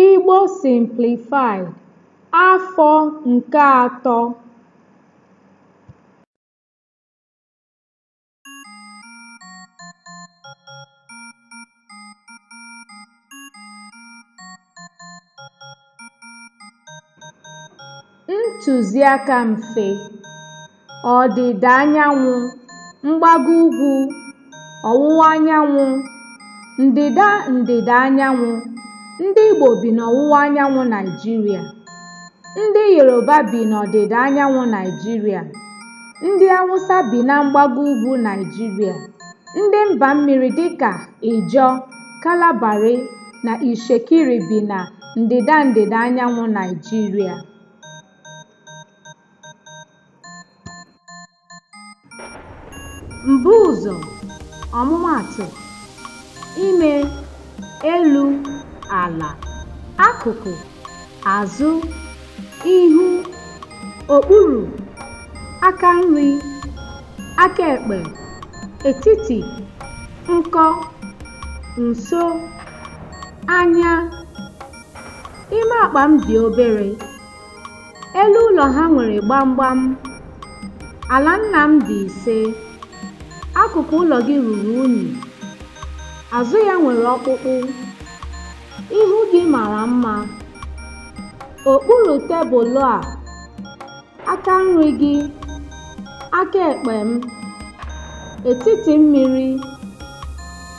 Igbo Simplified, Afọ nke atọ Ntụziaka mfe, ọdịda anyanwụ, mgbago ugwu, ọwụwa anyanwụ, ndịda ndịda anyanwụ, ndị Igbo bi n'ọwụwa anyanwụ Naịjirịa, ndị Yoruba bi n'ọdịda anyanwụ Naịjirịa, ndị Awụsa bi na mgbago ugwu Naịjirịa, ndị mba mmiri dịka Ịjọ, Kalabari na Ishekiri bi na ndịda ndịda anyanwụ Naịjirịa. Mbuụzọ, ọmụmaatụ, ime, elu, ala, akụkụ azụ ihu okpuru aka nri aka ekpe etiti nkọ nso anya ime akpa m dị obere elu ụlọ ha nwere gbamgbam ala nna m dị ise akụkụ ụlọ gị ruru unyi azụ ya nwere ọkpụkpụ Ihu gị mara mma. Okpuru tebụl a, aka nri gị, aka ekpe m, etiti mmiri,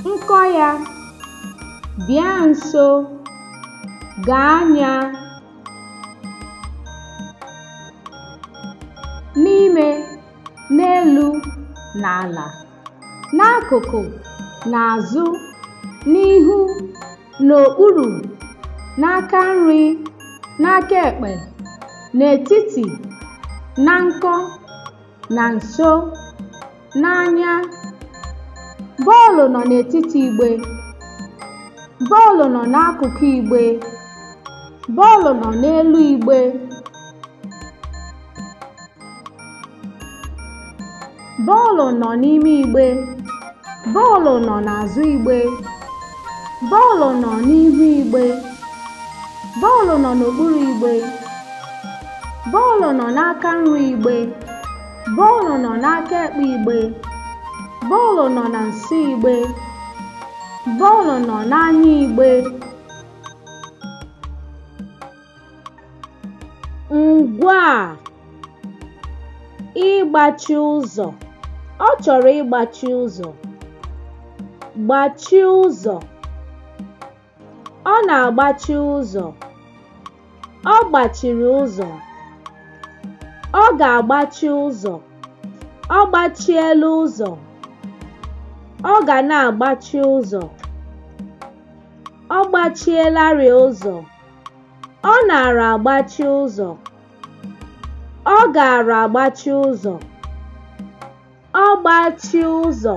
nkọ ya, bịa nso, gaa anya, n'ime, n'elu, n'ala. n'akụkụ n'azụ n'ihu n'okpuru n'aka nri n'aka ekpe n'etiti na nkọ na nso n'anya bọọlụ nọ n'etiti igbe bọọlụ nọ n'akụkụ igbe bọọlụ nọ n'elu igbe Bọọlụ nọ n'ime igbe. Bọọlụ nọ n'azụ igbe. Bọọlụ nọ n'ihu igbe. Bọọlụ nọ n'okpuru igbe. Bọọlụ nọ n'aka nri igbe. Bọọlụ nọ n'aka ekpe igbe. Bọọlụ nọ na nso igbe. Bọọlụ nọ n'anya igbe. ngwaa ịgbachi ụzọ ọ chọrọ ịgbachi ụzọ gbachie ụzọ ọ na-agbachi ụzọ ọ gbachiri ụzọ ọ ga-agbachi ụzọ ọ gbachiela ụzọ ọ ga na-agbachi ụzọ ọ gbachielarị ụzọ Ọ naara agbachi ụzọ. Ọ gaara agbachi ụzọ. Ọ gbachi ụzọ.